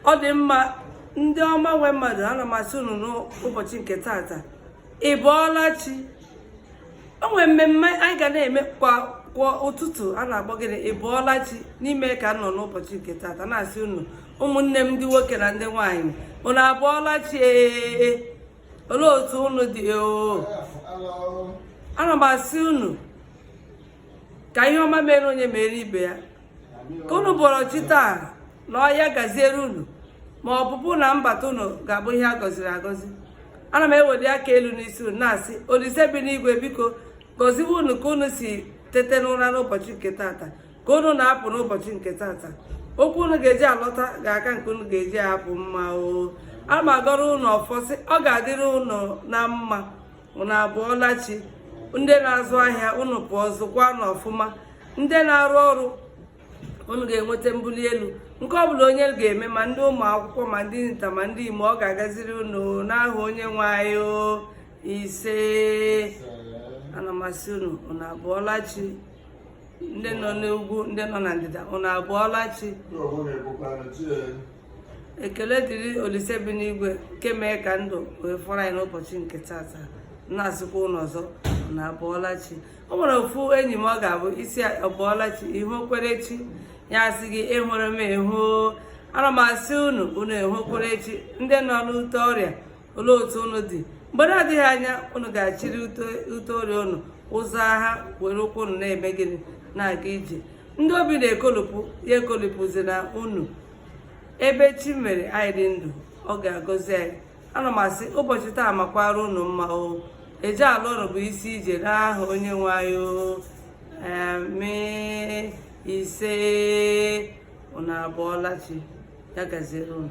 ọ dị mma ndị ọma nwe mmadụ ana m asị unu n'ụbọchị nke tata ị bọọla chi o nwere mmemme anyị ga na-eme kwa ụtụtụ a na-akpọ gịnị ị bọọla chi n'ime ka m nọ n'ụbọchị nke tata na-asị unu ụmụnne m ndị nwoke na ndị nwaanyị unu abụọla chi ee olee otu unu dị oo ana m asị unu ka ihe ọma meere onye meere ibe ya ka unu bọrọ chi taa na o ya gaziere unu ma ọpụpụ na mbata unu ga-abụ ihe a gọziri agọzi ana m eweli aka elu n'isi unu na-asị olise bi n'igwe biko gọziwe unu ka unu si tete n'ụra n'ụbọchị nke tata ka unu na-apụ n'ụbọchị nke tata ụkwụ unu ga-eji alọta ga-aka nke unu ga-eji apụ mma o ana m agọrọ unu ọfọ sị ọ ga-adịrị unu na mma unu abụọla chi ndị na-azụ ahịa unu pụọ zụkwanụ ọfụma ndị na-arụ ọrụ unu ga-enweta mbuli elu nke ọ bụla onye ga-eme ma ndị ụmụ akwụkwọ ma ndị nta ma ndị imo ọ ga-agaziri unu n'aha onye nwe anyị ise ana m asị unu unu abụọla chi ndị nọ n'ugwu ndị nọ na ndịda unu abụọla chi ekele dịrị olise bi n'igwe nke mee ka ndụ wee fọrọ anyị n'ụbọchị nke tata na-asịkwa unu ọzọ unu abụọla chi o nwere ofu enyi m ọ ga-abụ ị sị ọ bụọla chi i hukwere chi ya asị gị ihuru m ehu ana m asị unu unu ehukwere chi ndị nọ n'ute ọrịa olee otu unu dị mgbe na-adịghị anya unu ga-achịrị ute ọrịa unu ụzọ agha were ụkwụ unu na-eme gịnị na-aga ije ndị obi na-ekolopụ ya ekolopụzina unu ebe chi mere anyị dị ndụ ọ ga-agọzi anyị ana m asị ụbọchị taa makwara unu mma o eje ala ụlọ bụ isi ije n'aha onye nwe anyị amen ise unu abụọla chi ya gaziere unu